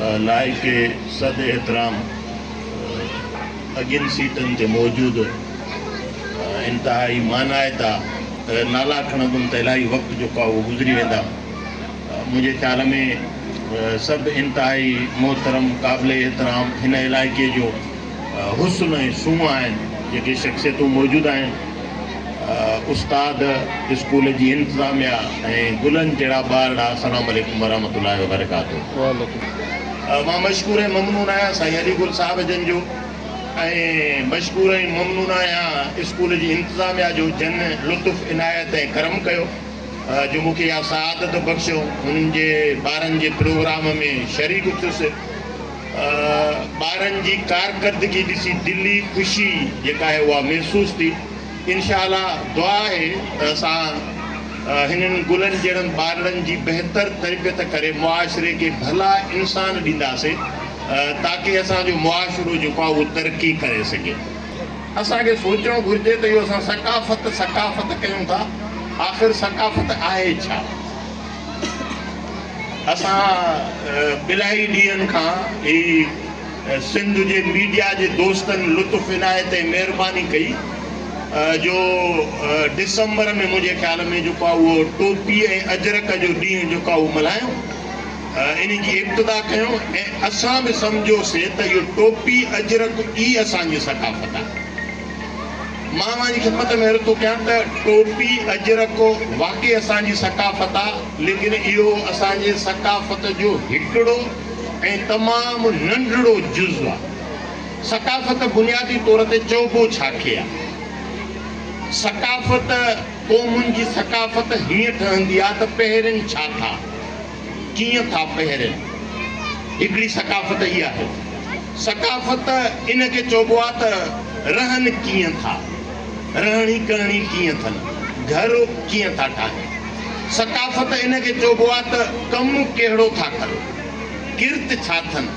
لائق صد احترام اڳين سيٽن تي موجود انتهائي مانائتا نالا کڻندم ته الاهي وقت جو ڪاهو گذري ويندا منهنجي خيال ۾ سڀ انتهائي محترم قابل احترام هن علائقي جو حسن ۽ سونهن آهن جيڪي شخصيتون موجود آهن استاد، اسڪول جي انتظاميه ۽ گلن جهڙا ٻار ڏانهن السلام عليڪم ورحمة الله وبرڪاته. مان مشڪور ۽ ممنون آهيان سائين علي گل صاحب جن جو ۽ مشڪور ۽ ممنون آهيان اسڪول جي انتظاميه جو جن لطف عنايت ۽ ڪرم ڪيو جو مون کي اها سعادت بخشيو هنن جي ٻارن جي پروگرام ۾ شريڪ ٿيس. ٻارن جي ڪارڪردگي ڏسي دلي خوشي جيڪا آهي اها محسوس ٿي انشاء الله دعا آهي ته اسان هنن گلن جهڙن ٻارڙن جي بهتر تربيت ڪري معاشري کي ڀلا انسان ڏينداسي تاڪه اسان جو معاشرو جيڪو آهي اهو ترقي ڪري سگهي اسان کي سوچڻ گهرجي ته اهو اسان ثقافت ثقافت ڪيون ٿا آخر ثقافت آهي ڇا؟ اسان الائي ڏينهن کان هي سنڌ جي ميڊيا جي دوستن لطف عنايت ۽ مهرباني ڪئي جو ڊسمبر ۾ منهنجي خيال ۾ جيڪو آهي اهو ٽوپي ۽ اجرڪ جو ڏينهن جيڪو آهي اهو ملهايون ان جي ابتدا ڪيون ۽ اسان به سمجهيوسي ته اهو ٽوپي اجرڪ ئي اسان جي ثقافت آهي. مان اوهان جي خدمت ۾ عرض ٿو ڪيان ته ٽوپي، اجرڪو واقعي اسان جي ثقافت آ، ليڪن اهو اسان جي ثقافت جو هڪڙو ۽ تمام ننڍڙو جز آ. ثقافت بنيادي طور تي چئبو ڇا کي آ؟ ثقافت، قومن جي ثقافت هيئن ٺهندي آ ته پهرين ڇا ٿا؟ ڪيئن ٿا پهرين. هڪڙي ثقافت ئي آهي. ثقافت ان کي چئبو آ ته رهن ڪيئن ٿا. رهڻي ڪهڻي ڪيئن ٿن. گهر ڪيئن ٿا ٺاهين. ثقافت ان کي چئبو آ ته ڪم ڪهڙو ٿا ڪن. ڪرت ڇا ٿن.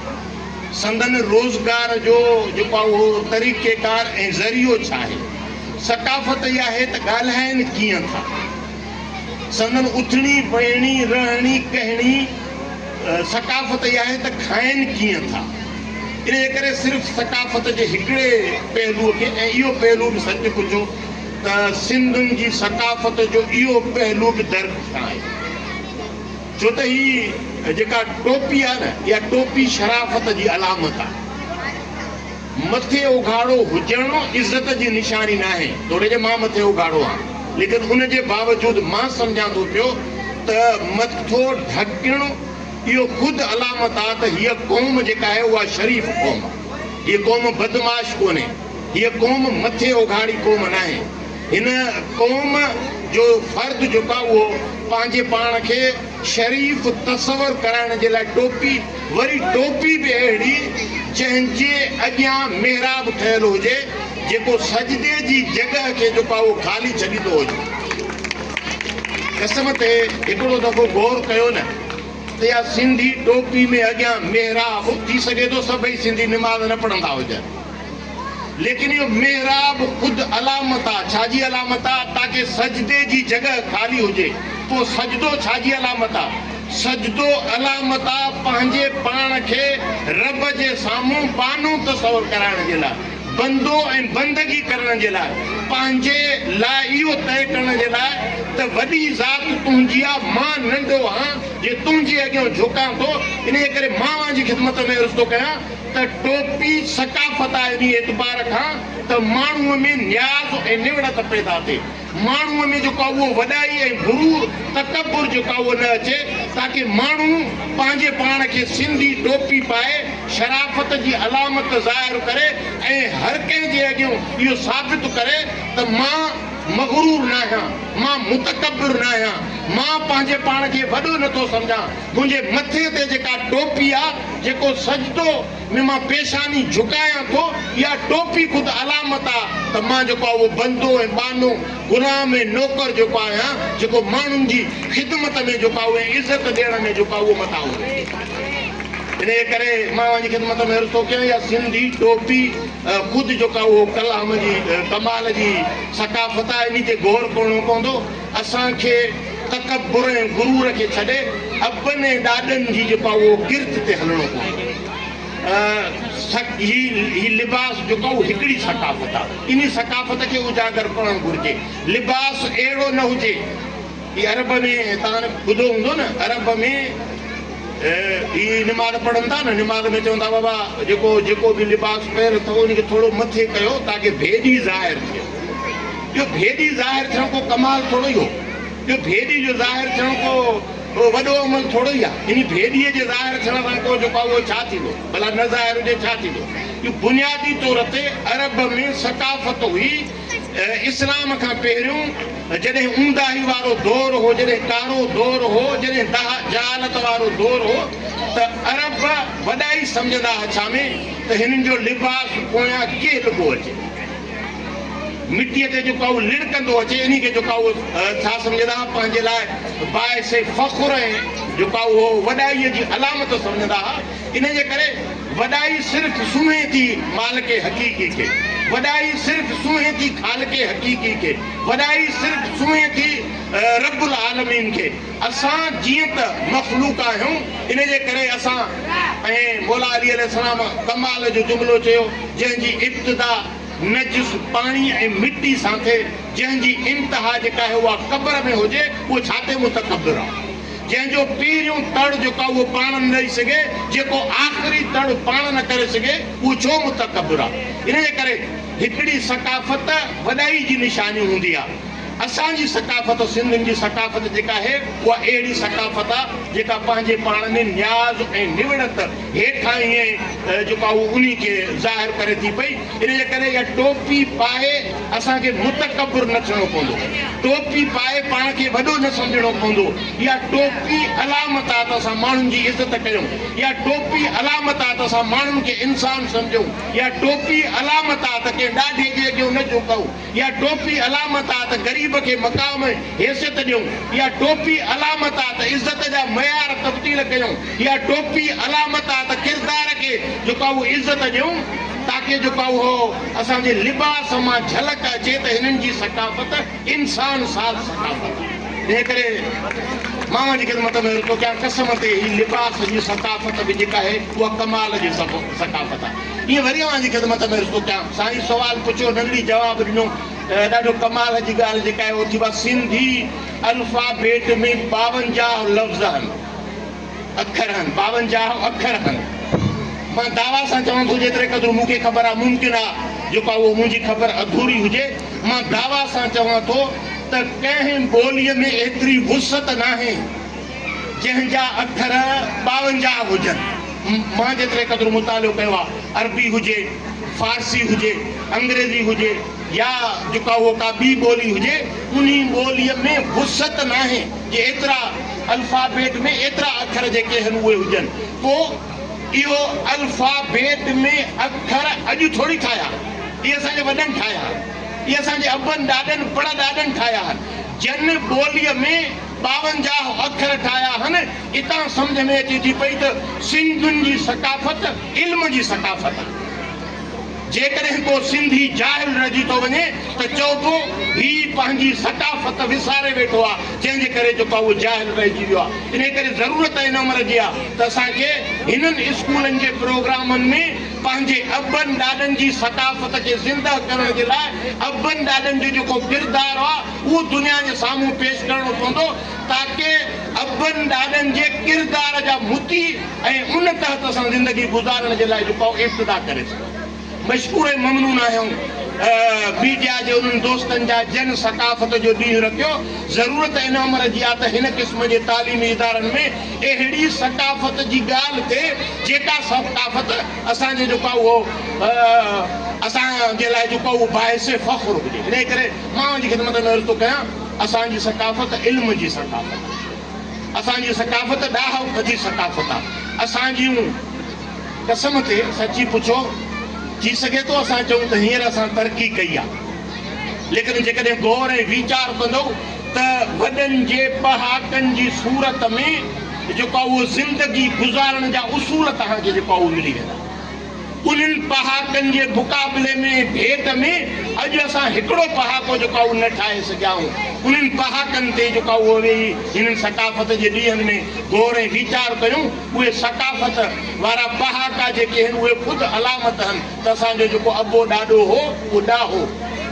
سندن روزگار جو جيڪو آ اهو طريقيڪار ۽ ذريعو ڇا آهي. ثقافت ئي آهي ته ڳالهائين ڪيئن ٿا. سندن اٿڻي، ويهڻي، رهڻي، ڪهڻي ثقافت اها آهي ته کائين ڪيئن ٿا. انهيء ڪري صرف ثقافت جي هڪڙي پهلوء کي ۽ اهو پهلو به سچ پچو ته سنڌين جي ثقافت جو اهو پهلو به درڪ کان آهي ڇو ته هي جيڪا ٽوپي آهي نه اها ٽوپي شرافت جي علامت آهي. مٿي اگهاڙو هجڻ عزت جي نشاني ناهي، توڙي جو مان مٿي اگهاڙو آهيان، ليڪن ان جي باوجود مان سمجهان ٿو پيو ته مٿو ڍڪڻ اهو خود علامت آهي ته هيء قوم جيڪا آهي اها شريف قوم آهي. هيء قوم بدمعاش ڪونهي. هيء قوم مٿي اگهاڙي قوم ناهي. هن قوم جو فرد جيڪو آهي اهو پنهنجي پاڻ کي. شريف تصور ڪرائڻ جي لاء ٽوپي، وري ٽوپي به اهڙي جنهن جي اڳيان محراب ٺهيل هجي، جيڪو سجدي جي جڳهه کي جيڪو آهي اهو خالي ڇڏيندو هجي. قسم تي هڪڙو دفعو غور ڪيو نه ته اها سنڌي ٽوپي ۾ اڳيان محراب ٿي سگهي ٿو سڀئي سنڌي نماز نه پڙهندا هجن. ليڪن اهو محراب خود علامت آ، ڇا جي علامت آ؟ تاڪه سجدي جي جڳهه خالي هجي، پوء سجدو ڇا جي علامت آ؟ سجدو علامت آ پنهنجي پاڻ کي رب جي سامهون بانو تصور ڪرائڻ جي لاء، بندو ۽ بندگي ڪرڻ جي لاء، پنهنجي لاء اهو طئي ڪرڻ جي لاء ته وڏي ذات تنهنجي آ، مان ننڍو هان جي تنهنجي اڳيون جهڪان ٿو، انهيء ڪري مان اوهان جي خدمت ۾ عرض ٿو ڪيان. ته ٽوپي ثقافت آهي انهيء اعتبار کان ته ماڻهوء ۾ نياز ۽ نوڙت پيدا ٿئي، ماڻهوء ۾ جيڪو آهي اهو وڏائي ۽ غرور، تڪبر جيڪو آهي اهو نه اچي تاڪه ماڻهو پنهنجي پاڻ کي سنڌي ٽوپي پائي شرافت جي علامت ظاهر ڪري ۽ هر ڪنهن جي اڳيون اهو ثابت ڪري ته مان مغرور ناهيان، مان متڪبر ناهيان، مان پنهنجي پاڻ کي وڏو نٿو سمجهان. تنهنجي مٿي تي جيڪا ٽوپي آ، جيڪو سجدو ۾ مان پيشاني جهڪايان ٿو، اها ٽوپي خود علامت آ ته مان جيڪو آ اهو بندو ۽ ٻانهو، غلام ۽ نوڪر جيڪو آهيان، جيڪو ماڻهن جي خدمت ۾ جيڪو آ اهو ۽ عزت ڏيڻ ۾ جيڪو آ اهو متان اهو رهي ٿو. انهيء ڪري مان اوهان جي خدمت ۾ عرض ٿو ڪيان اها سنڌي ٽوپي خود جيڪو آ اهو ڪلام جي ڪمال جي ثقافت آ، انهي تي غور ڪرڻو پوندو. اسان کي تڪبر ۽ غرور کي ڇڏي ابن ۽ ڏاڏن جي جيڪو آهي اهو ڪرت تي هلڻو پوندو. هي هي لباس جيڪو آهي اهو هڪڙي ثقافت آهي. انهي ثقافت کي اجاگر ڪرڻ گهرجي. لباس اهڙو نه هجي. هي عرب ۾ توهان ٻڌو هوندو نه عرب ۾ هي نماز پڙهن ٿا نه نماز ۾ چون ٿا بابا جيڪو جيڪو به لباس پهريو اٿو ان کي ٿورو مٿي ڪيو تاڪه ڀيڏي ظاهر ٿئي. جو ڀيڏي ظاهر ٿيڻ ڪو ڪمال ٿورو ئي هو. جو ڀيڏي جو ظاهر ٿيڻ ڪو وڏو عمل ٿورو ئي آ. انهي ڀيڏيء جي ظاهر ٿيڻ سان ڪو جيڪو آ اهو ڇا ٿيندو؟ ڀلا نه ظاهر هجي ڇا ٿيندو؟ جو بنيادي طور تي عرب ۾ ثقافت هئي اسلام کان پهريون جڏهن اونداهي وارو دور هو، جڏهن ڪارو دور هو، جڏهن دهه جهالت وارو دور هو ته عرب وڏائي سمجهندا ها ڇا ۾ ته هنن جو لباس پويان ڪيهه لڳو اچي. مٽيء تي جو ڪائو لڙڪندو اچي انهي کي جو ڪائو ٿا سمجهندا ها پنهنجي لاء باعث فخر ۽ جو ڪائو هو وڏائيء جي علامت سمجهندا ها ان جي ڪري وڏائي صرف سونهين ٿي مالڪ حقيقي کي وڏائي صرف سونهين ٿي خالق حقيقي کي وڏائي صرف سونهين ٿي رب العالمين کي. اسان جيئن ته مخلوق آهيون، ان جي ڪري اسان ۽ مولا علي عليه السلام ڪمال جو جملو چيو، جنهن جي ابتدا نجس پاڻي ۽ مٽي سان ٿئي، جنهن جي انتها جيڪا آهي اها قبر ۾ هجي، اهو ڇا تي متڪبر آهو، جنهن جو پهريون تڙ جيڪو آهي اهو پاڻ نه ڏئي سگهي، جيڪو آخري تڙ پاڻ نه ڪري سگهي، اهو ڇو متڪبر آهي، ان جي ڪري هڪڙي ثقافت وڏائي جي نشاني هوندي آهي. اسان جي ثقافت سنڌين جي ثقافت جيڪا آهي اها اهڙي ثقافت آ جيڪا پنهنجي پاڻ ۾ نياز ۽ نوڙت هيٺاهين جيڪو آ اهو انهي کي ظاهر ڪري ٿي پئي ان جي ڪري اها ٽوپي پائي اسان کي متڪبر نه ٿيڻو پوندو ٽوپي پائي پاڻ کي وڏو نه سمجهڻو پوندو اها ٽوپي علامت آ ته اسان ماڻهن جي عزت ڪيون اها ٽوپي علامت آ ته اسان ماڻهن کي انسان سمجهون اها ٽوپي علامت آ ته ڪنهن ڏاڍي جي اڳيون نه جهڪون اها ٽوپي علامت آ ته غريب کي مقام ۽ حيثيت ڏيون، اها ٽوپي علامت آ ته عزت جا معيار تبديل ڪيون، اها ٽوپي علامت آ ته ڪردار کي جيڪو آ اهو عزت ڏيون تاڪه جيڪو آ اهو اسان جي لباس مان جهلڪ اچي ته هنن جي ثقافت انسان ساز ثقافت آ. تنهن ڪري مان اوهان جي خدمت ۾ عرض ٿو ڪيان قسم تي هي لباس جي ثقافت به جيڪا آهي اها ڪمال جي ثقافت آ. ڏينهن وري اوهان جي خدمت ۾ عرض ٿو ڪيان. سائين سوال پڇيو ننگڙي جواب ڏنو. ڏاڍو ڪمال جي ڳالهه جيڪا آهي اهو ٿي ڀا سنڌي الفابيٽ ۾ ٻاونجاهه لفظ هن اکر هن ٻاونجاهه اکر هن مان دعويٰ سان چوان ٿو جيتري قدر مون کي خبر آهي ممڪن آهي جيڪو اهو منهنجي خبر اڌوري هجي مان دعويٰ سان چوان ٿو ته ڪنهن ٻوليء ۾ ايتري وسعت ناهي جنهن جا اکر ٻاونجاهه هجن. مان جيتري قدر مطالعو ڪيو آهي، عربي هجي، فارسي هجي، انگريزي هجي يا جيڪا هو ڪا ٻي ٻولي هجي، انهي ٻوليء ۾ وسعت ناهي جي ايترا الفابيٽ ۾ ايترا اکر جيڪي هن اهي هجن. پوء اهو الفابيٽ ۾ اکر اڄ ٿوري ٺاهيا. اهي اسان جي وڏن ٺاهيا آهن. اهي اسان جي ابن ڏاڏن پڙڏاڏن ٺاهيا آهن. جن ٻوليء ۾. ٻاونجاهه اکر ٺاهيا هن. اتان سمجهه ۾ اچي ٿي پئي ته سنڌين جي ثقافت علم جي ثقافت آهي. جيڪڏهن ڪو سنڌي جاهل رهجي ٿو وڃي ته چئبو هي پنهنجي ثقافت وساري ويٺو آهي جنهن جي ڪري جيڪو آهي اهو جاهل رهجي ويو آهي. انهي ڪري ضرورت هن عمر جي آهي ته اسان کي هنن اسڪولن جي پروگرامن ۾ پنهنجي ابن ڏاڏن جي ثقافت کي زنده ڪرڻ جي لاء ابن ڏاڏن جو جيڪو ڪردار آهي اهو دنيا جي سامهون پيش ڪرڻو پوندو تاڪه ابن ڏاڏن جي ڪردار جا مطيع ۽ ان تحت سان زندگي گذارڻ جي لاء جهڪاء ارتدا ڪري سگهو. مشڪور ۽ ممنون آهيون ميڊيا جي انهن دوستن جا جن ثقافت جو ڏينهن رکيو. ضرورت هن امر جي آ ته هن قسم جي تعليمي ادارن ۾ اهڙي ثقافت جي ڳالهه ٿئي جيڪا ثقافت اسان جي جهڪاء اسان جي لاء جهڪاء باعث فخر هجي. انهيء ڪري مان اوهان جي خدمت ۾ عرض ٿو ڪيان اسان جي ثقافت علم جي ثقافت آهي اسان جي ثقافت ڏاهپ جي ثقافت آهي اسان جيون قسم تي سچي پڇو ٿي سگهي ٿو اسان چئون ته هينئر اسان ترقي ڪئي آهي ليڪن جيڪڏهن غور ۽ ويچار ڪندؤ ته وڏن جي پهاڪن جي صورت ۾ جيڪو آهي اهو زندگي گذارڻ جا اصول توهان کي جيڪو آهي اهو ملي ويندا. انهن پهاڪن جي مقابلي ۾ ڀيٽ ۾ اڄ اسان هڪڙو پهاڪو جيڪو آهي اهو نه ٺاهي سگهيائون. انهن پهاڪن تي جيڪو آهي اهو ويهي هنن ثقافت جي ڏينهن ۾ غور ۽ ويچار ڪيون. اهي ثقافت وارا پهاڪا جيڪي هن اهي خود علامت هن ته اسان جو جيڪو ابو ڏاڏو هو اهو ڏاهو،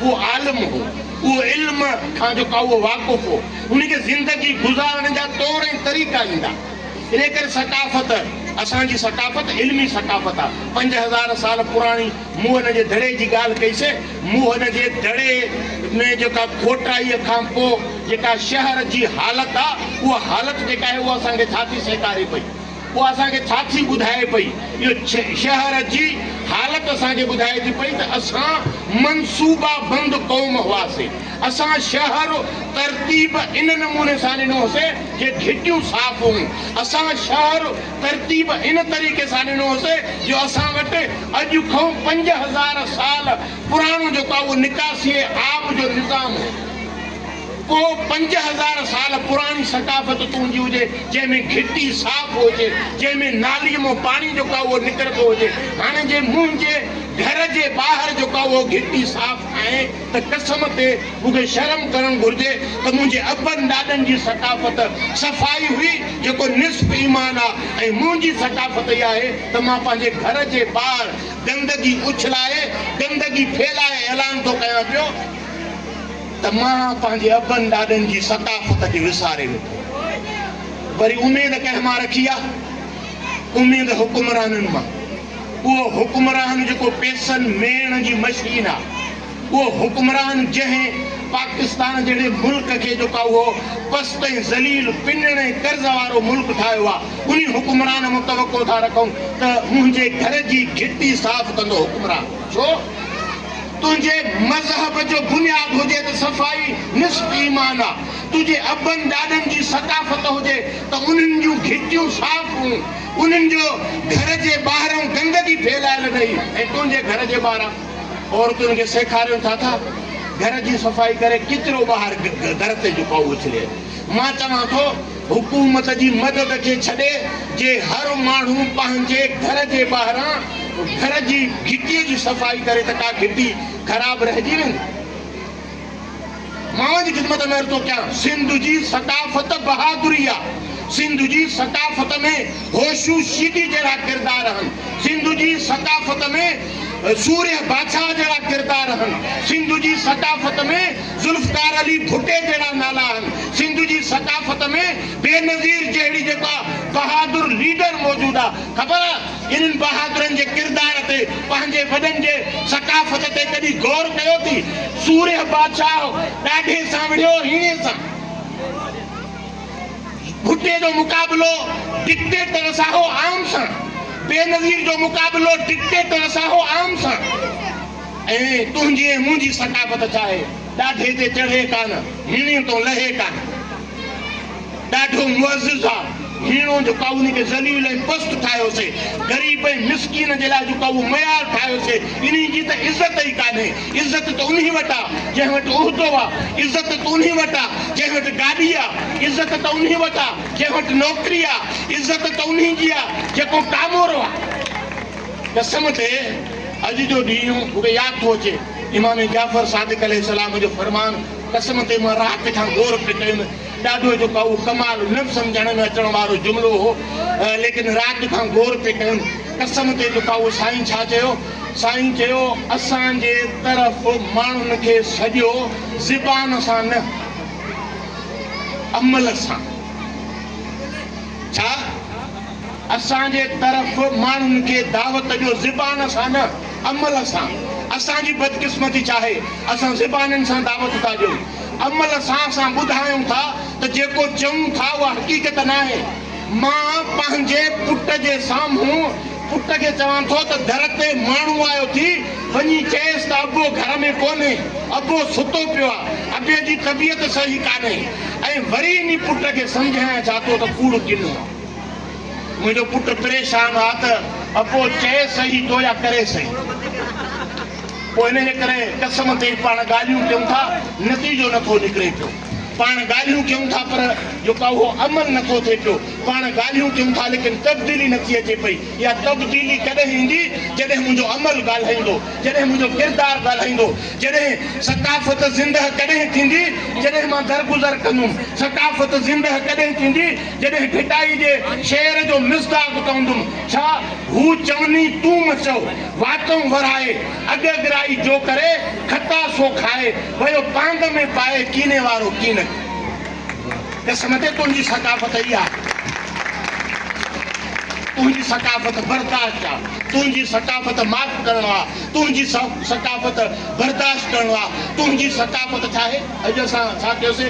اهو عالم هو، اهو علم کان جيڪو آهي اهو واقف هو، ان کي زندگي گذارڻ جا طور ۽ طريقا ايندا. انهيء ڪري ثقافت، اسان جي ثقافت علمي ثقافت آ. پنج هزار سال پراڻي موهن جي دڙي جي ڳالهه ڪئي سي. موهن جي دڙي ۾ جيڪا کوٽائيء کان پوء جيڪا شهر جي حالت آ، اها حالت جيڪا آهي، اها اسان کي ڇا ٿي سيکاري پئي؟ اها اسان کي ڇا ٿي ٻڌائي پئي؟ اهو شهر جي حالت اسان کي ٻڌائي ٿي پئي ته اسان منصوبا بند قوم هئاسي. اسان شهر ترتيب ان نموني سان ڏنو هوسي جي گهٽيون صاف هون. اسان شهر ترتيب ان طريقي سان ڏنو هوسي جو اسان وٽ اڄ کئون پنج هزار سال پراڻو جيڪو آهي اهو نڪاسيء آب جو نظام هو. ڪو پنج هزار سال پراڻي ثقافت تنهنجي هجي جنهن ۾ گهٽي صاف هجي، جنهن ۾ ناليء مون پاڻي جيڪو آهي اهو نڪرندو هجي. هاڻي جي منهنجي گهر جي ٻاهر جيڪو آهي اهو گهٽي صاف ناهي. ته قسم تي مون کي شرم ڪرڻ گهرجي ته منهنجي ابن ڏاڏن جي ثقافت صفائي هئي جيڪو نصف ايمان آ ۽ منهنجي ثقافت اها آهي ته مان پنهنجي گهر جي ٻاهر گندگي اڇلائي گندگي ڦهلائي اعلان ٿو ڪيان پيو ته مان پنهنجي ابن ڏاڏن جي ثقافت کي وساري ويٺو وري اميد ڪنهن مان رکي آ اميد حڪمرانن مان. اهو حڪمران جيڪو پيسن ميڻ جي مشين آ، اهو حڪمران جنهن پاڪستان جهڙي ملڪ کي جيڪو اهو پست ۽ ذليل پنڻ ۽ قرض وارو ملڪ ٺاهيو آ، انهي حڪمران مان توقع ٿا رکون ته منهنجي گهر جي گهٽي صاف ڪندو حڪمران ڇو تنهنجي مذهب جو بنياد هجي ته صفائي نصف ايمان آ، تنهنجي ابن ڏاڏن جي ثقافت هجي ته انهن جون گهٽيون صاف هون. انهن جو گهر جي ٻاهران گندگي ڦهلايل اٿئي ۽ تنهنجي گهر جي ٻاهران عورتن کي سيکارين ٿا ته گهر جي صفائي ڪري ڪچرو ٻاهر در تي جو پاهو اڇلي. مان چوان ٿو حڪومت جي مدد کي ڇڏي جي هر ماڻهو پنهنجي گهر جي ٻاهران گهر جي گهٽي جي صفائي ڪري ته ڪا گهٽي خراب رهجي ويندي. ماڻهن جي خدمت ۾ عرض ٿو ڪيان. سنڌ جي ثقافت بهادري آ. سنڌ جي ثقافت ۾ هوشو شيدي جهڙا ڪردار هن. سنڌ جي ثقافت ۾ سورهيه باڇا جهڙا ڪردار هن. سنڌ جي ثقافت ۾ ذوالفقار علي ڀٽي جهڙا نالا هن. سنڌ جي ثقافت ۾ بينظير جهڙي جيڪا بهادر ليڊر موجود آ. خبر آ. انهن بهادرن جي ڪردار تي پنهنجي وڏن جي ثقافت تي ڪڏهن غور ڪيو ٿي؟ سورهيه بادشاهه ڏاڍي سان وڙهيو هيڻي سان. ڀٽي جو مقابلو ڊڪٽيٽر ساهو عام سان. بينظير جو مقابلو ڊڪٽيٽر ساهو عام سان. ۽ تنهنجي ۽ منهنجي ثقافت ڇا آهي؟ ڏاڍي تي چڙهي ڪانه، هيڻي تون لهي ڪانه. ڏاڍو معزز آ، هيڻو جو ڪا ان کي ذليل ۽ پست ٺاهيو سي، غريب ۽ مسڪين جي لاء جو ڪا اهو معيار ٺاهيو سي، انهي جي ته عزت ئي ڪانهي، عزت ته انهي وٽ آ، جنهن وٽ عهدو آ، عزت ته انهي وٽ آ، جنهن وٽ گاڏي آ، عزت ته انهي وٽ آ، جنهن وٽ نوڪري آ، عزت ته انهي جي آ، جيڪو ڪامورو آ. قسم تي اڄ جو ڏينهن مون کي ياد ٿو اچي، امام جعفر صادق عليه السلام جو فرمان، قسم تي مان رات کان غور پئي ڪيم. ڏاڍو جو ڪائو ڪمال نه سمجهڻ ۾ اچڻ وارو جملو هو. ليڪن رات کان غور پئي ڪيم. قسم تي جو ڪائو سائين ڇا چيو؟ سائين چيو اسان جي طرف ماڻهن کي سڏيو زبان سان نه عمل سان. ڇا؟ اسان جي طرف ماڻهن کي دعوت ڏيو زبان سان نه عمل سان اسان جي بدقسمتي ڇاهي اسان زبانن سان دعوت ٿا ڏيون عمل سان اسان ٻڌايون ٿا ته جيڪو چئون ٿا اها حقيقت ناهي مان پنهنجي پٽ جي سامهون پٽ کي چوان ٿو ته در تي ماڻهو آيو ٿي وڃي چئيس ته ابو گهر ۾ ڪونهي ابو ستو پيو آ ابي جي طبيعت صحيح ڪانهي ۽ وري انهي پٽ کي سمجهايان ڇا تو ته ڪوڙ ڪنو آ. منهنجو پٽ پريشان آ ته ابو چئي سهي ٿو يا ڪري سهي ٿو. ان جي ڪري قسم تي پاڻ ڳالهيون ڪيون ٿا نتيجو نه ٿو نڪري پيو. پاڻ ڳالهيون ڪيون ٿا پر جو ڪا اهو عمل نه ٿو ٿئي پيو. پاڻ ڳالهيون ڪيون ٿا ليڪن تبديلي نه ٿي اچي پئي. اها تبديلي ڪڏهن ايندي جڏهن منهنجو عمل ڳالهائيندو، جڏهن منهنجو ڪردار ڳالهائيندو، جڏهن ثقافت زنده ڪڏهن ٿيندي جڏهن مان درگذر ڪندم، ثقافت زنده ڪڏهن ٿيندي، جڏهن ڀٽائي جي شعر جو مصداق پوندم ڇا؟ هو چوني تون م چئو، واتئون ورهائي، اڳگرائي جو ڪري، کتا سو کائي، ويو پانگ ۾ پائي، ڪيني وارو ڪينڪ. قسم تي تنهنجي ثقافت اها آ. تنهنجي ثقافت برداشت آ. تنهنجي ثقافت معاف ڪرڻو آ. تنهنجي ثقافت برداشت ڪرڻو آ. تنهنجي ثقافت ڇا آهي؟ اڄ اسان ڇا ڪيوسي؟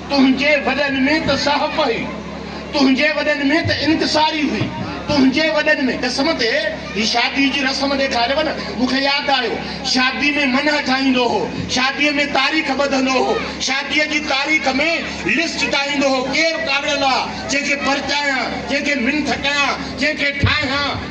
تنهنجي وڏن ۾ ته صاحب هئي، تنهنجي وڏن ۾ ته انڪساري هئي، تنهنجي وڏن ۾ قسم تي هي شادي جي رسم ڏيکاريو نه، مون کي ياد آيو، شادي ۾ منهن ٺاهيندو هو، شاديء ۾ تاريخ ٻڌندو هو، شاديء جي تاريخ ۾ لسٽ ٺاهيندو هو، ڪير ڪاوڙيل آ، جنهن کي پرچايان، جنهن کي منٿ ڪيان، جنهن کي ٺاهيان.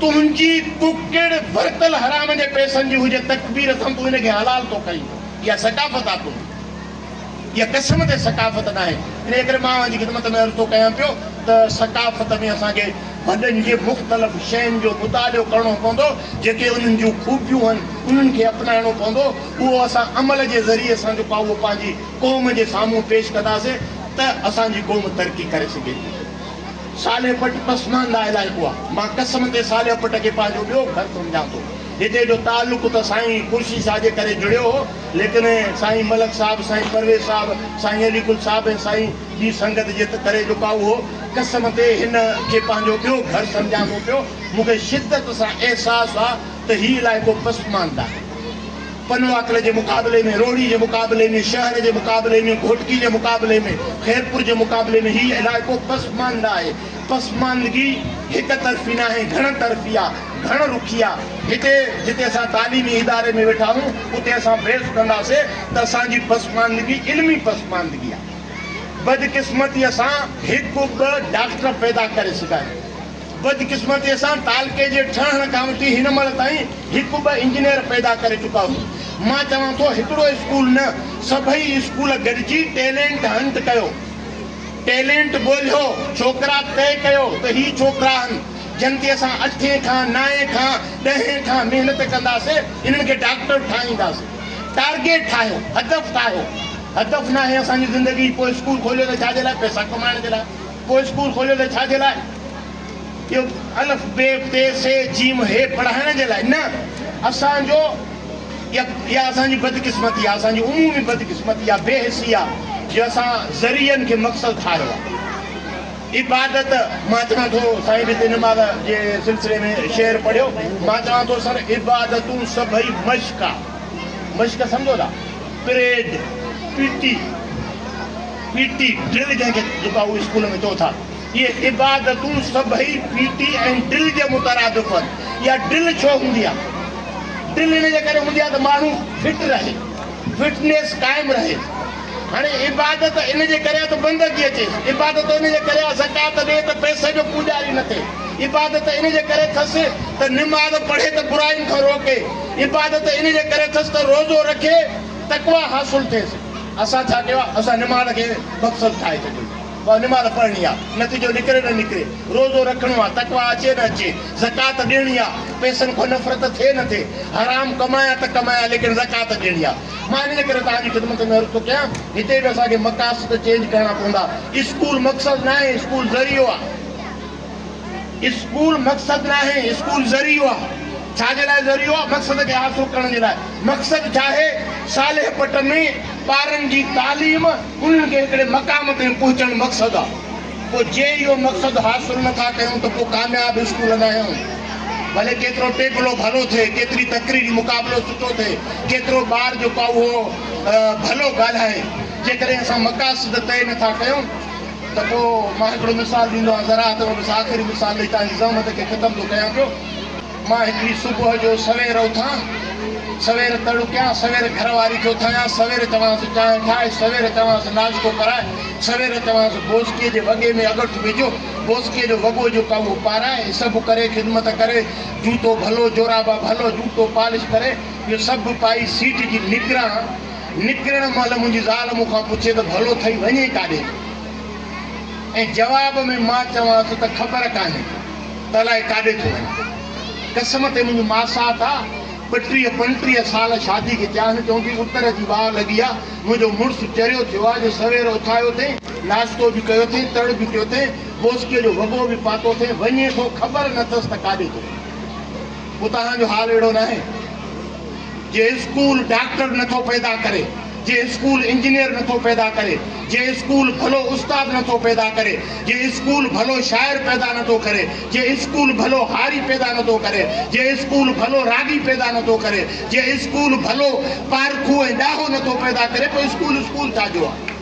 تنهنجي ڪڪڙ ورتل حرام جي پئسن جي هجي تڪبير اٿم تون ان کي حلال ٿو ڪرين اها ثقافت آ تنهنجي اها قسم تي ثقافت ناهي انهي ڪري مان اوهان جي خدمت ۾ عرض ٿو ڪيان پيو ته ثقافت ۾ اسان کي وڏن جي مختلف شين جو مطالعو ڪرڻو پوندو جيڪي انهن جون خوبيون هن انهن کي اپنائڻو پوندو اهو اسان عمل جي ذريعي سان جيڪو آ اهو پنهنجي قوم جي سامهون پيش ڪنداسين ته اسان جي قوم ترقي ڪري سگهي ٿي. صالح پٽ پسمانده علائقو آ. مان قسم تي صالح پٽ کي پنهنجو ٻيو گهر سمجهان ٿو. هتي جو تعلق ته سائين خورشيد شاهه جي ڪري جڙيو هو، ليڪن سائين ملڪ صاحب، سائين پرويز صاحب، سائين علي گل صاحب ۽ سائين جي سنگت جي ڪري جو ڪائو هو. قسم تي هن کي پنهنجو ٻيو گهر سمجهان ٿو پيو. مون کي شدت سان احساس آ ته هي علائقو پسمانده آهي. پنواڪل جي مقابلي ۾ روهڙي جي مقابلي ۾ شهر جي مقابلي ۾ گهوٽڪي جي مقابلي ۾ خيرپور جي مقابلي ۾ هي علائقو پسمانده آهي پسماندگي هڪ طرفي ناهي گهڻ طرفي آ گهڻ رخي آ هتي جتي اسان تعليمي اداري ۾ ويٺا آهيون اتي اسان بحث ڪنداسي ته اسان جي پسماندگي علمي پسماندگي آ بدقسمتي سان هڪ ٻه ڊاڪٽر پيدا ڪري سگهيا آهيون. بدقسمتيء سان تعلقي جي ٺهڻ کان وٺي هن مهل تائين هڪ ٻه انجنيئر پيدا ڪري چڪا هئا. مان چوان ٿو هڪڙو اسڪول نه سڀئي اسڪول گڏجي ٽيلينٽ هنٽ ڪيو. ٽيلينٽ ڳولهيو. ڇوڪرا طئي ڪيو ته هي ڇوڪرا آهن جن تي اسان اٺين کان نائين کان ڏهين کان محنت ڪنداسين انهن کي ڊاڪٽر ٺاهينداسين. ٽارگيٽ ٺاهيو. هدف ٺاهيو. هدف ناهي اسان جي زندگي پوء اسڪول کوليو ته ڇا جي لاء پئسا ڪمائڻ جي لاء. ڪو اسڪول کوليو ته ڇا جي لاء؟ اهو الف بي ٽي سي جيم هي پڙهائڻ جي لاء نه. اسان جو يا اسان جي بدقسمتي آهي، اسان جي عمومي بدقسمتي يا بي حسي آهي جو اسان ذريعن کي مقصد ٺاهيو آهي. عبادت مان چوان ٿو سائين به هتي نماز جي سلسلي ۾ شعر پڙهيو، مان چوان ٿو سر عبادتون سڀئي مشق آ. مشق سمجهو ٿا؟ Parade, P T. P T drill جنهن کي جيڪا هو اسڪول ۾ چئو ٿا اهي عبادتون سڀئي پي ٽي ۽ ڊرل جي مترادف آهن اها ڊرل ڇو هوندي آهي ڊرل ان جي ڪري هوندي آهي ته ماڻهو فٽ رهي فٽنيس قائم رهي هاڻي عبادت ان جي ڪري ته بندگي اچيس عبادت ان جي ڪري زڪات ڏي ته پئسي جو پوڄاري نه ٿئي عبادت ان جي ڪري ٿس ته نماز پڙهي ته براين کان روڪي عبادت ان جي ڪري ٿس ته روزو رکي تقويٰ حاصل ٿئيس. اسان ڇا ڪيو آ اسان نماز کي مقصد ٺاهي ڇڏيو بس نماز پڙهڻي آ نتيجو نڪري نه نڪري روزو رکڻو آ تقويٰ اچي نه اچي زڪوات ڏيڻي آ پئسن کان نفرت ٿئي نه ٿئي حرام ڪمايا ته ڪمايا ليڪن زڪوات ڏيڻي آ مان انهيء ڪري توهان جي خدمت ۾ عرض ٿو ڪيان هتي به اسان کي مقاصد چينج ڪرڻا پوندا اسڪول مقصد ناهي اسڪول ذريعو آ. اسڪول مقصد ناهي، اسڪول ذريعو آ. ڇا جي لاء ذريعو آ؟ مقصد کي حاصل ڪرڻ جي لاء. مقصد ڇاهي؟ صالح پٽ ۾ ٻارن جي تعليم، انهن کي هڪڙي مقام تائين پهچڻ مقصد آ. پوء جي اهو مقصد حاصل نٿا ڪيون ته پوء ڪامياب اسڪول ناهيون. ڀلي ڪيترو ٽيڪلو ڀلو ٿئي، ڪيتري تقريري مقابلو سٺو ٿئي، ڪيترو ٻار جيڪو آ اهو ڀلو ڳالهائي، جيڪڏهن اسان مقاصد طئي نٿا ڪيون، ته پوء مان هڪڙو مثال ڏيندو آهيان زراعت ۾ بس آخري مثال ڏئي تنهنجي زحمت کي ختم ٿو ڪيان پيو مان هڪڙي صبح جو سوير اٿان سوير تڙڪيان سوير گهر واري کي اٿايان سوير چوانس چانهه ٺاهه سوير چوانس ناشتو ڪرائي سوير چوانس بوسڪي جي وڳي ۾ اڳٺ وجهه بوسڪي جو وڳو جيڪو اهو پارائي هي سڀ ڪري خدمت ڪري جوتو ڀلو جورابا ڀلو جوتو پالش ڪري اهو سڀ پائي سيٽ جي نگران نڪرڻ مهل منهنجي زال مون کان پڇي ته ڀلو ٿئي وڃين ڪاڏي ٿو ۽ جواب ۾ مان چوانس ته خبر ڪانهي ته الاء ڪاڏي ٿو وڃان. قسم تي منهنجي ماسات آ، ٻٽيهه پنٽيهه سال شادي کي ٿيا آهن، چوندي اتر جي واء لڳي آ، منهنجو مڙس چريو ٿيو آ جو سوير اٿايو ٿئي، ناشتو به ڪيو ٿئي، تڙ به ڪيو ٿئي، موسڪيء جو وڳو به پاتو ٿئي، وڃي ٿو خبر نه ٿس ته ڪاڏي ٿو وڃي. اتان جو حال اهڙو ناهي جي اسڪول ڊاڪٽر نٿو پيدا ڪري، جي اسڪول انجنيئر نٿو پيدا ڪري، جي اسڪول ڀلو استاد نٿو پيدا ڪري، جي اسڪول ڀلو شاعر پيدا نٿو ڪري، جي اسڪول ڀلو هاري پيدا نٿو ڪري، جي اسڪول ڀلو راڳي پيدا نٿو ڪري، جي اسڪول ڀلو پارکو ۽ ڏاهو نٿو پيدا ڪري پوء اسڪول اسڪول ڇا جو آهي؟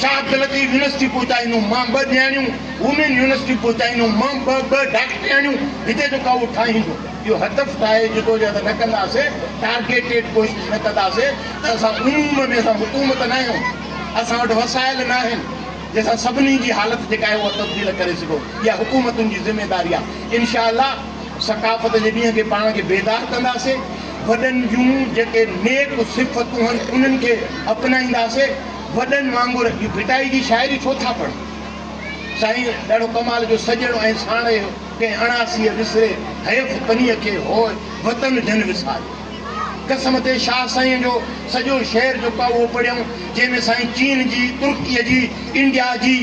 شاهه عبداللطيف يونيورسٽي پهچائيندوم مان ٻه ڏياڻيون، وومين يونيورسٽي پهچائيندوم مان ٻه ٻه ڊاڪٽرياڻيون، هتي جو ڪائوٽ ٺاهيندو اهو هدف ٺاهي جدوجهد نه ڪنداسي، ٽارگيٽيڊ ڪوشش نه ڪنداسي ته اسان عموم ۾ اسان حڪومت نه آهيون، اسان وٽ وسائل نه آهن جنهن سان سڀني جي حالت جيڪا آهي اها تبديل ڪري سگهون، اها حڪومتن جي ذميواري آهي، انشاء الله. ثقافت جي ڏينهن تي پاڻ کي بيدار ڪنداسي، وڏن جون جيڪي نيڪ صفتون هن انهن کي اپنائينداسي، وڏن وانگر هي ڀٽائي جي شاعري ڇو ٿا پڙهن؟ سائين ڏاڍو ڪمال جو سڄڻ ۽ ساڻيهه هيو، ڪنهن اڻاسيء وسري حيف پنيء کي هوء وطن جن وساريو. قسم تي شاهه سائينء جو سڄو شعر جيڪو آهي اهو پڙهيائون، جنهن ۾ سائين چين جي، ترڪيء جي، انڊيا جي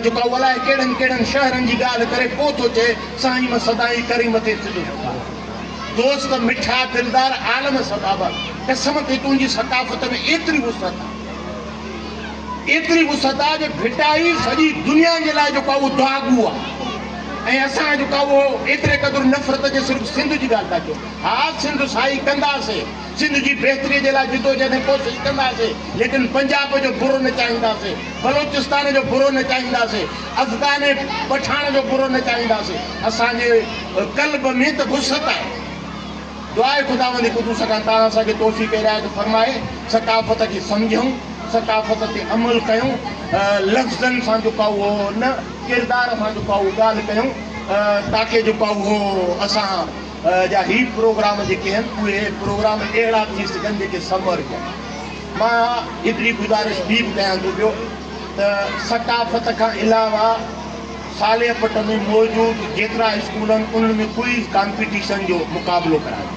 جيڪو آهي الاهي ڪهڙن ڪهڙن شهرن جي ڳالهه ڪري پوء ٿو چئي، سائين مان سدائين ڪريم تي ٿيندو ٿڪان دوست مٺا دلدار عالم سدابا قسم ٿي تنهنجي ثقافت ۾ ايتري وسعت آ ايتري وسعت آ جو ڀٽائي سڄي دنيا جي لاء جو ڪا اهو دعاگو آ ۽ اسان جو ڪا اهو ايتري قدر نفرت جي صرف سنڌ جي ڳالهه ٿا ڪيون ها سنڌ سائي ڪنداسين سنڌ جي بهتري جي لاء جدوجهد ۽ ڪوشش ڪنداسين ليڪن پنجاب جو برو نه چاهينداسين، بلوچستان جو برو نه چاهينداسين، افغان ۽ پٺاڻ جو برو نه چاهينداسين، اسان جي قلب ۾ ته وسعت آهي. دعا آهي خداوند قدوس کان تان اسان کي توفيق عنايت فرمائي ثقافت کي سمجهون، ثقافت تي عمل ڪيون، لفظن سان جيڪو اهو نه ڪردار سان جيڪو اهو ڳالهه ڪيون تاڪي جيڪو اهو اسان جا هي پروگرام جيڪي آهن اهي پروگرام اهڙا ٿي سگهن جيڪي سمر جا مان هڪڙي گذارش ٻي به ڪيان ٿو پيو ته ثقافت کان علاوه صالح پٽ ۾ موجود جيترا اسڪول آهن انهن ۾ ڪوئز ڪامپيٽيشن جو مقابلو ڪرايو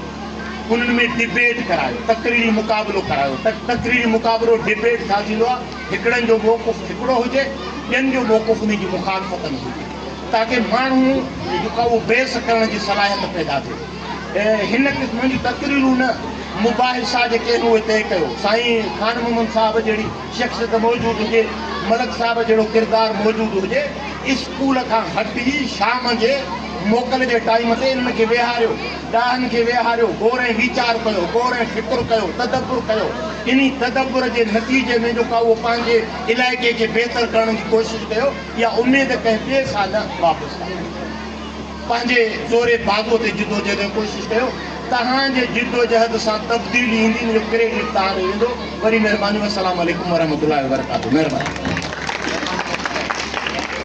انهن ۾ ڊبيٽ ڪرايو تقريري مقابلو ڪرايو ته تقريري مقابلو ڊبيٽ ڇا ٿيندو آهي هڪڙن جو موقف هڪڙو هجي ٻين جو موقف انهن جي مخالفت ۾ هجي تاڪه ماڻهو جيڪو آهي اهو بحث ڪرڻ جي صلاحيت پيدا ٿئي. هن قسم جون تقريرون نه مباحثا جي ڪنهن اهي طئي ڪيو. سائين خان محمد صاحب جهڙي شخصيت موجود هجي، ملڪ صاحب جهڙو ڪردار موجود هجي، اسڪول کان هٽي شام جي موڪل جي ٽائيم تي انهن کي ويهاريو، ڏاهن کي ويهاريو، غور ۽ ويچار ڪيو، غور ۽ فڪر ڪيو، تدبر ڪيو. انهي تدبر جي نتيجي ۾ جيڪو آهي اهو پنهنجي علائقي کي بهتر ڪرڻ جي ڪوشش ڪيو. اها اميد ڪنهن ٻئي سان نه وابسته آهي. پنهنجي زوري باگو تي جدوجهد ۽ ڪوشش ڪيو. توهان جي جدوجهد سان تبديلي ايندي ان جو ڪريڊٽ توهان ڏي ويندو. وڏي مهرباني والسلام عليڪم ورحمة الله وبرڪاته مهرباني.